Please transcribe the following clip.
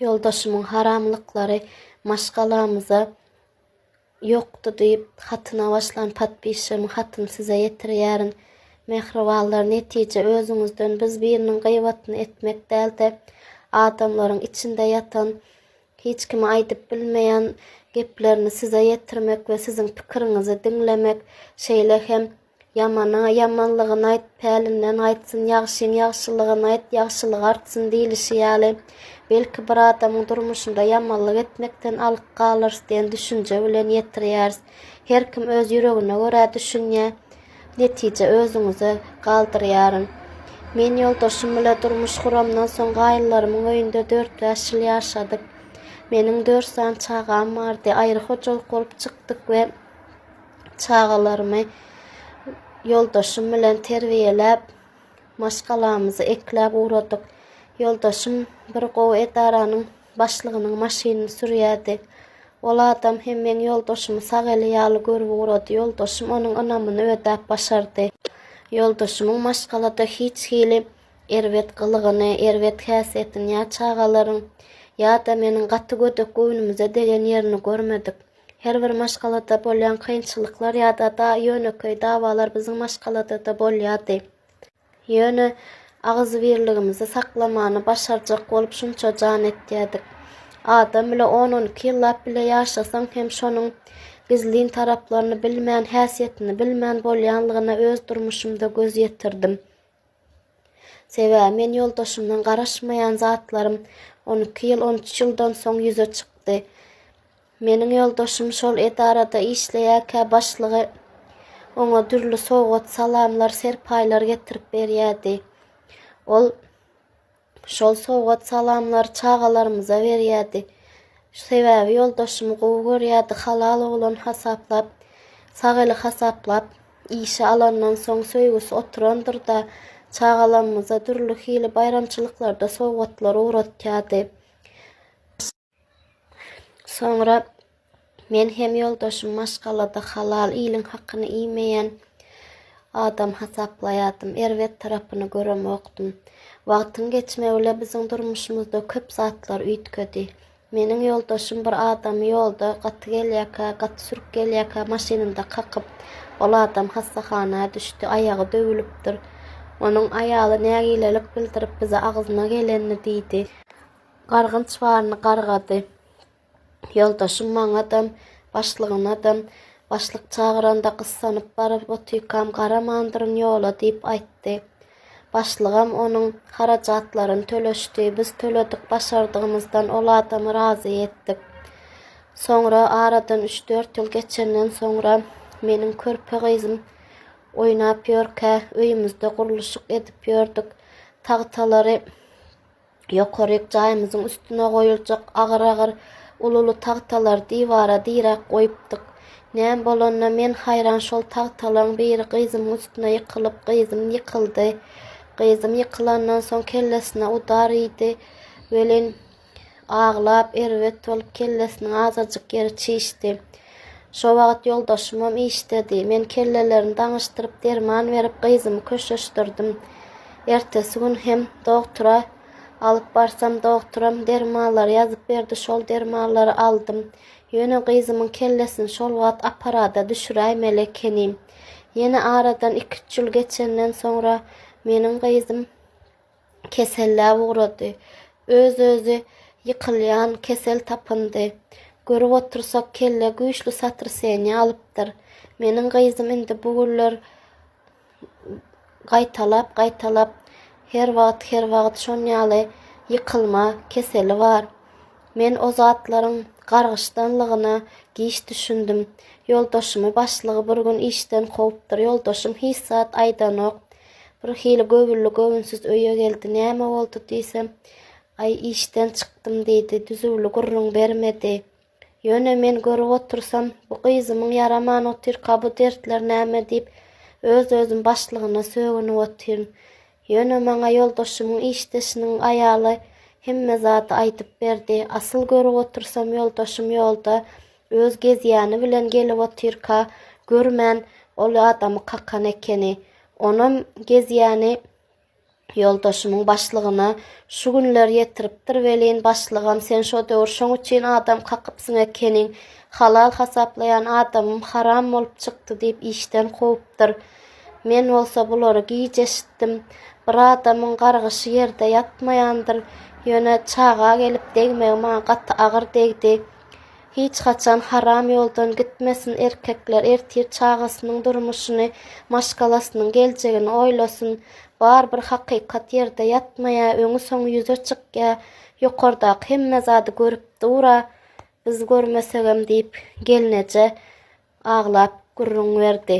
Ýoldaşymyň haramlyklary maşgalamyza ýokdy diýip hatyna başlan podpisçygyň hatyny size ýetirýärin. Mähribanlar netije özüňizden biz biriniň gyýbatyny etmek dälde adamlaryň içinde ýatan hiç kime aýdyp bilmeýän geplerini size ýetirmek we siziň pikiriňizi diňlemek şeýle hem Ýamana ýamanlygyny aýt, pälinden gaýtsyn, ýagşyň ýagşylygyny aýt, ýagşylygy artsyn diýlişi ýaly, belki bir adamyň durmuşynda ýamanlyk etmekden alyk galarys diýen düşünje bilen ýetirýäris. Her kim öz ýüregine görä düşünýär. Netije özüňize galdyrýaryn. Men ýoldaşym bilen durmuş guramdan soň gaýynlarymyň öýünde dört bäş ýyl ýaşadyk. Meniň dört sany çagam bardy. Aýry hojalyk bolup çykdyk we çagalarymy ýoldaşym bilen terbiýeläp, maşgalamyzy ekläp ugradyk. Ýoldaşym bir gowy edaranyň başlygynyň maşynyny sürýärdi. Ol adam hem meň ýoldaşymy sag eli ýaly görüp ugrady. Ýoldaşym onuň ynamyny ödäp başardy. Ýoldaşymyň maşgalada hiç hili erbet gylygyny, erbet häsiýetini ýa çagalaryň, ýa-da meniň gaty gödek göwnümize degen ýerini görmedik. Her bir maşgalada bolýan kynçylyklar ýa-da ýönekeý dawalar biziň maşgalada-da bolýardy. Ýöne agzybirligimizi saklamany başarjak bolup şunça jan etýärdik. Adam bile on-on iki ýyllap bile ýaşasaň hem şonuň gizlin taraplaryny bilmän, häsiýetini bilmän bolýanlygyna öz durmuşymda göz ýetirdim. Sebäbi men ýoldaşymdan garaşmaýan zatlarym on iki ýyl, on üç ýyldan soň ýüze çykdy. Meniň ýoldaşym şol edarada işleýärkä başlygy oňa dürli sowgat-salamlar, serpaýlar getirip berýärdi. Ol Şol sowgat-salamlary çagalarymyza berýärdi. Sebäbi ýoldaşymy gowy görýärdi, halal oglan hasaplap, sag eli hasaplap, işe alandan soň söýgüsi oturandyr-da, çagalamyza dürli hili baýramçylyklarda sowgatlar ugratýardy. Soňra men hem ýoldaşym maşgalada halal iliň hakyny iýmeýän adam hasaplaýardym. Erbet tarapyny göremokdym. Wagtyň geçmegi bilen biziň durmuşymyzda köp zatlar üýtgedi. Meniň ýoldaşym bir adamy ýolda gaty gelýärkä, gaty sürk gelýärkä maşynynda kakyp, ol adam hassahana düşdi, aýagy döwülipdir. Onuň aýaly nägilelik bildirip bize agzyna gelenini diýdi. Gargynç baryny gargady. Ýoldaşym maňadam, başlygyňadam, başlyk çagyranda gyssanyp baryp otykam garamandyryn ýola diýip aýtdy. Başlygam onuň harajatlaryny töleşdi, biz töledik, başardygymyzdan ol adamy razy etdik. Soňra aradan üç-dört ýyl geçenden soňra meniň körpe gyzym oýnap ýörkä öýümizde gurluşyk edip ýördük. Tagtalary. Ýokaryk jaýymyzyň üstüne goýuljak agyr-agyr, uly-uly tagtalary diwara diräp goýupdyk. Näme bolanyna men haýran şol tagtalaryň biri gyzymyň üstüne ýykylyp, gyzym ýykyldy. Gyzym ýykylandan soň kellesine udar iýdi. Welin, aglap, erbet bolup kellesiniň azajyk ýeri çişdi. Şo wagt ýoldaşymam işdedi. Men kellelerini daňyşdyryp, derman berip, gyzymy köşeşdirdim. Ertesi gün hem dogtura alyp barsam, dogturam dermanlary ýazyp berdi, şol dermanlary aldym. Ýöne gyzymyň kellesini şol wagt apparada düşüräýmeli ekenim. Ýene aradan iki-üç ýyl geçenden soňra meniň gyzym. keselle ugrady. Öz-özi ýykylýan kesel tapyndy. Görüp otursak, kelle güýçli sotraseniýa alypdyr. Meniň gyzym indi bu günler gaýtalap-gaýtalap, her wagt, her wagt şon ýaly ýykylma keseli bar. Men o zatlaryň gargyşdanlygyna giç düşündim. Ýoldaşymy başlygy bir gün işden kowupdyr. Ýoldaşym hiç zat aýdanok. Bir hili göwünli göwünsiz öýe geldi. Näme boldy diýsem, Aý, işden çykdym diýdi. Düzüwli gürrüň bermedi. Ýöne men görüp otursam, bu gyzymyň ýaraman otyrka bu dertler näme diýip, öz-özüm başlygyna sögünip otyryn. Ýöne maňa ýoldaşymyň işdeşiniň aýaly hemme zady aýdyp berdi. Asyl görüp otursam ýoldaşym ýolda Öz gezýäni bilen gelip otyrka görmän ol adamy kakan ekeni. Onam gezýäni ýoldaşymyň başlygyna şu günler ýetiripdir welin, başlygam sen şo döwür şoň üçin adam kakypsyň ekeniň, halal hasaplaýan adamym haram bolup çykdy diýip işden kowupdyr. Men bolsa bulary giç eşitdim. Bir adamyň gargyşy ýerde ýatmaýandyr. Ýöne çaga gelip degmegi maňa gaty agyr degdi. Hiç haçan haram ýoldan gitmesin erkekler ertir çagasynyň durmuşyny maşgalasynyň geljegini oýlasyn bar bir hakykat ýerde ýatmaýa öňi soňy ýüze çykýa ýokardaky hemme zady görüp dura biz görmesegem diýip gelneje aglap gürrüň berdi.